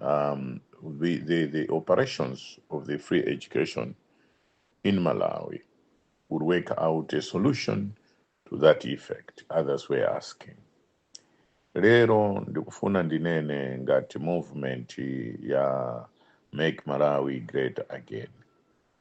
um, the, the, the operations of the free education in Malawi would work out a solution to that effect, others were asking. Lero ndikufuna ndinene ngati movement ya Make Malawi Great Again.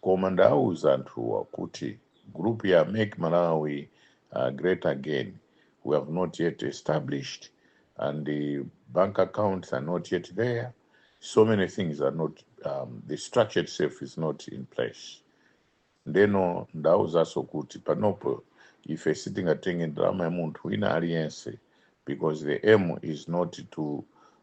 Koma ndawauza anthuwa kuti group ya Make Malawi uh, Great Again we have not yet established and bank accounts are not yet there. So many things are not, um, the structure itself is not in place. ndeno ndawauzaso kuti panopo ife sitingatenge ndalama ya munthu wina aliyense because the aim is not to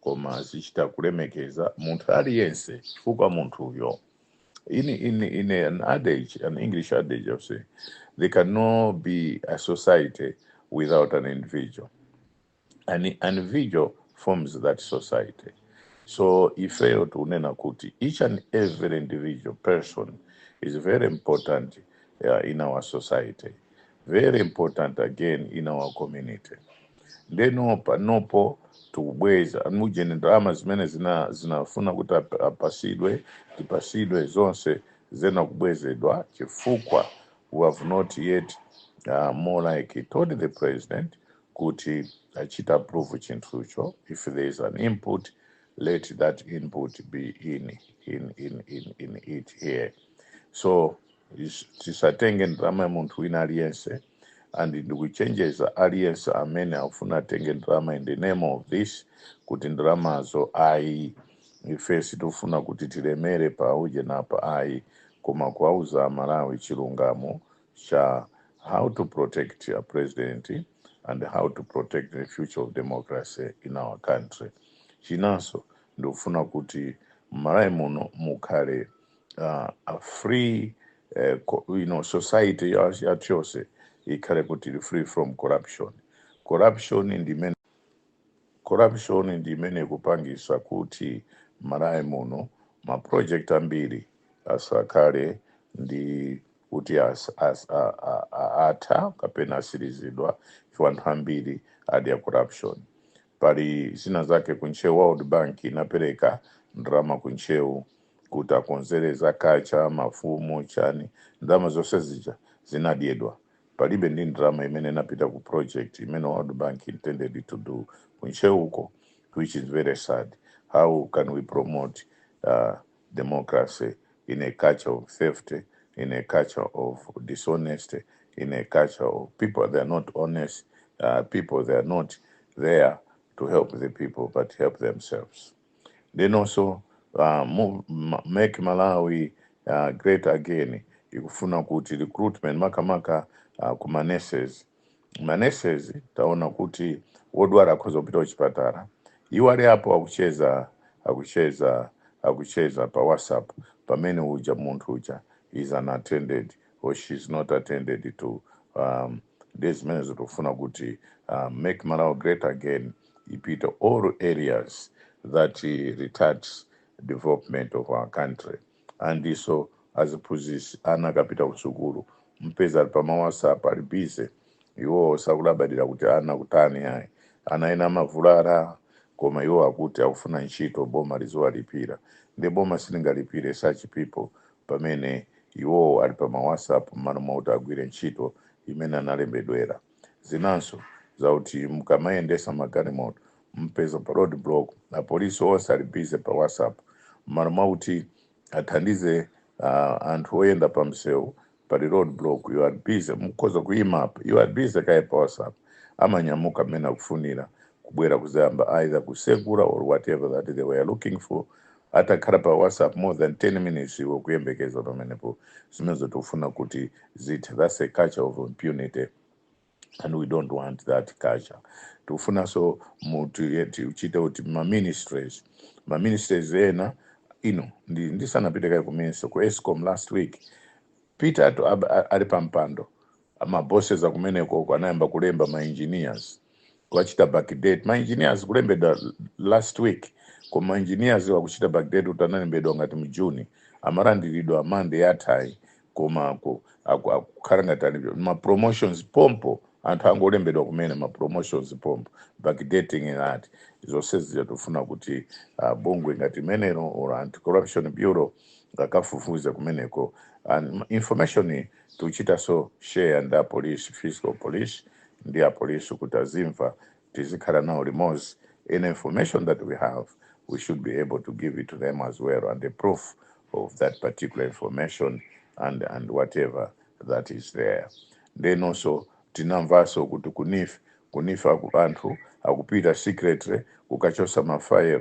koma azichita kulemekeza munthu aliyense chifukwa munthuyo in, in, in an adage, an English adage of saying, there cannot be a society without an individual. An individual forms that society. So if you tunena kuti, each and every individual person is very important uh, in our society. very important again in our community ndeno panopo tikubweza amujeni ndalama zimene zina zinafuna kuti ap- apasidwe tipasidwe zonse zina kubwezedwa chifukwa we have not yet uh, more like told the president kuti achite approve chinthucho if there is an input let that input be in in in in, in it here so is- tisatenge ndalama ya munthu wina aliyense and ndikuchenjeza aliyense amene akufuna atenge ndalama in the name of this kuti ndalamazo ayi ife sitifuna kuti tilemere pa ujenipa ayi koma kuwauza amalawi chilungamo cha how to protect a president and how to protect the future of democracy in our country chinanso ndikufuna kuti mmalawi muno mukhale uh, a free uh, co- you know society ya- yathu yonse ikhale kuti ili free from corruption corruption ndi imene corruption ndi imene ikupangisa kuti malawi muno ma project ambiri asakhale ndi kuti as, as, a, a, a, atha kapena atsirizidwa chifukwa anthu ambiri adya corruption pali zina zake ku Ntcheu world bank inapereka ndalama ku Ntcheu kuti akonzere za kaya mafumu chani ndalama zonse zija zinadyedwa palibe ndi ndalama imene inapita ku project imene world bank intended to do ku ntcheu uko which is very sad how can we promote uh, democracy in a culture of theft in a culture of dishonesty in a culture of people that are not honest uh, people that are not there to help the people but help themselves Ndenonso uh, move, ma- make malawi uh, great again ikufuna kuti recruitment makamaka uh, ku maneses maneses taona kuti wodwala akhoza kupita kuchipatala iwo ali apo akucheza akucheza akucheza pa whatsapp pamene uja munthu uja is unattended or she is not attended to um, ndiye zimenezo tikufuna kuti uh, make malawi great again repeat all areas that eh, retards development of our country ndiponso aziphunzisi ana akapita kusukulu mupeza ali pa ma whatsapp ali busy iwowo sakulabadira kuti ana akutani ayi ana ena amavulala koma iwo akuti akufuna ntchito boma liziwalipira nde boma silingalipire such people pamene iwowo ali pa ma WhatsApp m'malo mwakuti agwire ntchito imene analembedwera. Zinanso zakuti mukamayendesa magalimoto mupeza pa road block apolisi onse ali busy pa WhatsApp m'malo mwakuti athandize uh, anthu oyenda pa msewu pali road block mukhoza kuyima apa iwo ali busy kaye pa WhatsApp amanyamuka mmene akufunira kubwera kuzayamba either kusegula or whatever that they were looking for atakhala pa whatsapp more than 10 minutes iwe ukuyembekeza pamenepo zimenezo tikufuna kuti zithe that's a culture of impunity and we don't want that culture tikufunanso mutichite kuti maministries maministries ena ino ndi- ndisanapite kaye ku ministry ku escom last week peter to ali pampando ma bosses akumeneko uko anayamba kulemba ma engineers kuwachita backdate ma engineers kulembedwa last week koma ma engineers akuchita backdate kuti analembedwa ngati mu June amalandiridwa Monday yathayi koma aku- aku- akukhala ngati ali ma promotions pompo anthu angolembedwa kumene ma promotions pompo backdating ngati zonse zija tofuna kuti uh, bungwe ngati limenelo la anti corruption bureau akafufuze kumeneko and information Tichitanso share ndi a police, fiscal police, ndi a police kuti azimva tizikhala nawo limodzi, any information that we have we should be able to give it to them as well and a proof of that particular information and and whatever that is there. Ndenonso tinamvanso kuti ku neef, ku neef aku anthu akupita secretly kukachosa ma file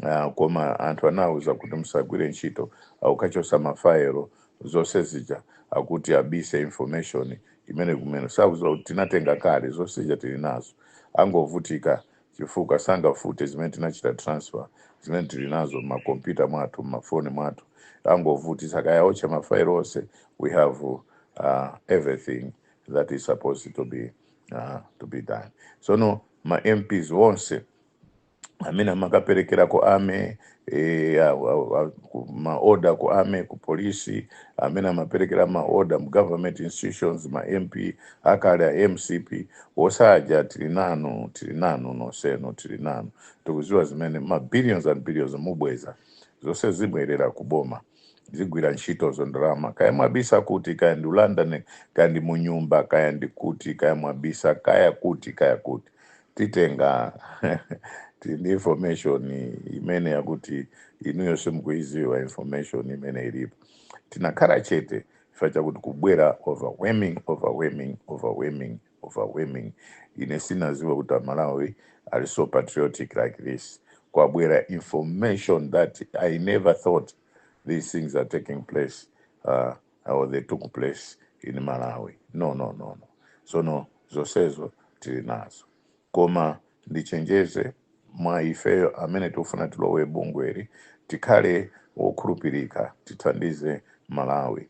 ah, koma anthu anawauza kuti musagwire ntchito akukachosa ma file zonse zija akuti abise information imene kumene sakuziwa kuti tinatenga kale zonse zija tili nazo angovutika chifukwa sangafute zimene tinachita transfer zimene tili nazo mmakompyuta mwathu mmafoni mwathu angovutisa kaya otcha mafailo onse we have uh, everything that is supposed to be uh, to be done sono ma mps onse amene amakaperekera ku army eh, a- a- a- ku- maoda ku army ku polisi amene amaperekera maoda mu government institutions ma mp akale a mcp osatha tili nanu tili nanu nonsenu tili nanu tikuziwa zimene ma billions and billions mubweza zonse zibwerera ku boma zigwira ntchitozo ndalama kaya mwabisa kuti kaya ndi london kaya ndi munyumba kaya ndi kuti kaya mwabisa kaya kuti kaya kuti titenga tili ndi information imene yakuti inuyo simukuiziwa information imene ilipo tinakhala chete chifukwa chakuti kubwera overwhelming overwhelming overwhelming overwhelming ine sinaziwe kuti amalawi ali so patriotic like this kwabwera information that i never thought these things are taking place uh, or they took place in malawi no no no no sono zonsezo tili nazo koma ndichenjeze mwa ifeyo amene tikufuna tilowe bungweli tikhale wokhulupirika tithandize malawi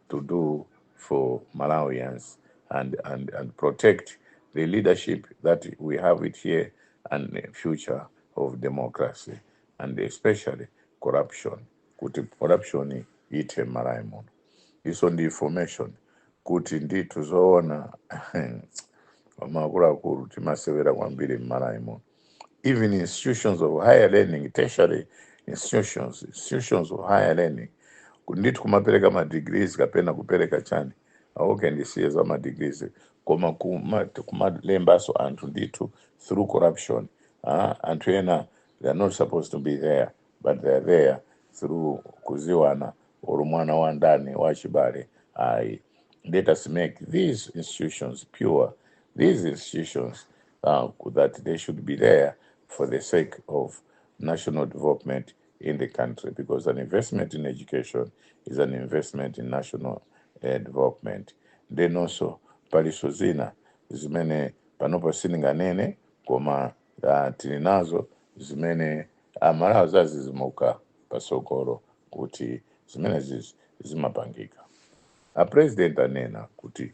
to do for Malawians and, and, and protect the leadership that we have it here and the future of democracy and especially corruption kuti corruption ithe m'malawi muno ifenso tili ndi information kuti ndithu zoona koma akuluakulu timasewera kwambiri m'malawi muno even institutions of higher learning tertiary institutions institutions of higher learning kundithu kumapereka ma degrees kapena kupereka chani ah okay ndisiye za ma degrees koma kuma- kumalembanso anthu ndithu through corruption ah, anthu ena they are not supposed to be there but they are there through kuziwana or mwana wa ndani wa chibale ayi let us make these institutions pure these institutions uh, that they should be there for the sake of national development in the country because an investment in education is an investment in national uh, development ndiyenso paliso zina zimene panopo sininganene koma uh, tili nazo zimene amalawi adzadzidzimuka pasogolo kuti zimenezi zimapangika a president anena kuti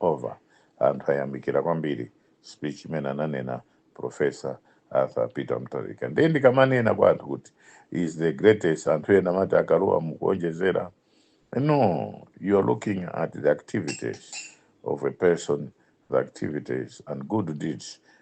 over anthu ayamikira kwambiri speech imene ananena professor arthur peter mutharika ndiye ndikamanena kwa anthu kuti he is the greatest anthu ena amati akuluwa mukuonjezera no you are looking at the activities of a person the activities and good deeds